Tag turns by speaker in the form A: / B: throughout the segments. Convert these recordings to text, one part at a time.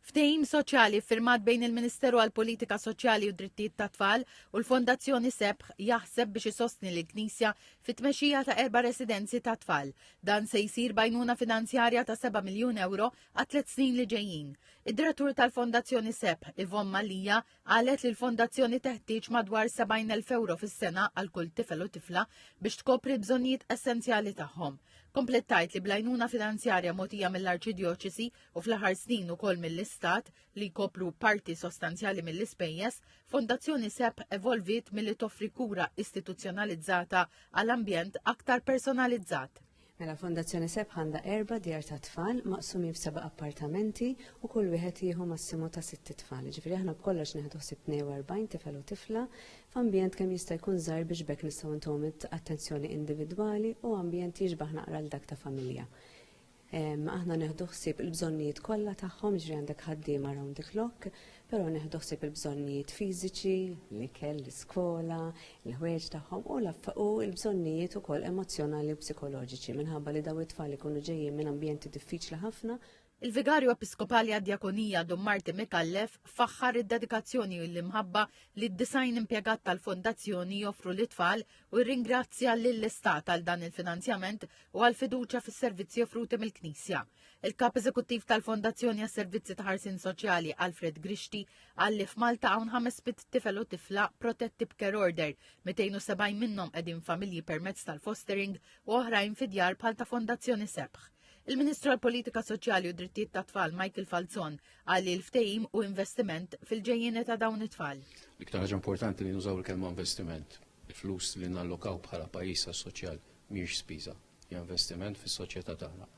A: Ftehim soċjali ffirmat bejn il-Ministeru għall-Politika Soċjali u d-Drittijiet tat-Tfal u l-Fondazzjoni Sebħ jaħseb biex isostni lill-Knisja fit-tmexxija ta' erba' residenzi tat-tfal. Dan se jsir b'għajnuna finanzjarja ta' seba' miljun ewro għat-tliet snin li ġejjin. Id-Direttur tal-Fondazzjoni Sebħ, Yvonne Mallia, qalet li l-Fondazzjoni teħtieġ madwar 70,000 ewro fis-sena għal kull tifel u tifla biex tkopri l-bżonnijiet essenzjali tagħhom. Kompliet tgħid li bl-għajnuna finanzjarja mogħtija mill-Arċidjoċesi u fl-aħħar snin ukoll mill-Istat, li jkopru parti sostanzjali mill-ispejjeż, Fondazzjoni SEP evolviet milli toffri kura istituzzjonalizzata għal ambjent aktar personalizzat. Mela Fondazzjoni
B: SEP għandha erba' djar ta' tfal maqsumin f'seba' appartamenti u kull wieħed jieħu massimu ta' sitt tfal. Ġifieri aħna b'kollox neħdu ħsieb 42 tifel u tifla f'ambjent kemm jista' jkun żgħir biex bekk nistgħu ntuhom attenzjoni individwali u ambjent jixbah naqra l dak ta' familja. Aħna neħdu ħsieb il-bżonnijiet kollha tagħhom, ġri għandek ħaddiem around the clock, però neħdu ħsieb il-bżonnijiet fiżiċi, l-ikel, l-iskola, l-ħwejġ tagħhom u u l-bżonnijiet ukoll emozzjonali u psikoloġiċi minħabba li daw it-tfal ikunu ġejjin minn ambjenti diffiċli ħafna. Il-Vigarju
A: Episkopali għad-Djakonija Dum Marti Mikallef faħħar id-dedikazzjoni u l-imħabba li d-disajn impjegat tal-Fondazzjoni joffru l-itfal u jirringrazzja lill-Istat għal dan il-finanzjament u għal fiduċja fis-servizzi offruti mill-Knisja. Il-Kap Eżekuttiv tal-Fondazzjoni għas-Servizzi ta' Ħarsin Soċjali Alfred Grixti qal li f'Malta hawn ħames bit tifel u tifla protetti b'care order, 270 minnhom qegħdin familji permezz tal-fostering u oħrajn fi djar bħal ta' Fondazzjoni Sebħ. Il-Ministru għall-Politika Soċjali u Drittijiet ta' Tfal Michael Falzon qal li l-ftehim u investiment fil-ġejjieni ta' dawn it-tfal. L-iktar ħaġa importanti
C: li nużaw il-kelma investiment. Il-flus li nallokaw bħala pajjiż għas-soċjal mhijiex spiża, hija investiment fis-soċjetà tagħna.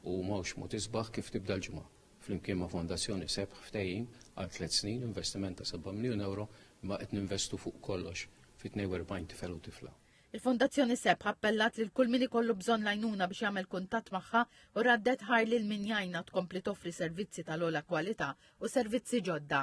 C: U mhux mod isbaħ kif tibda l-ġimgħa. Flimkien ma' Fondazzjoni Sebħ ftehim għal tliet snin investiment ta' 7 miljun euro imma qed ninvestu fuq kollox fi 42 tifel u tifla. Il-Fondazzjoni Sebħa
A: appellat lil kull min ikollu bżonn l-għajnuna biex jagħmel kuntatt magħha u raddet ħar lil min jgħinna tkompli toffri servizzi tal-ogħla kwalità u servizzi ġodda.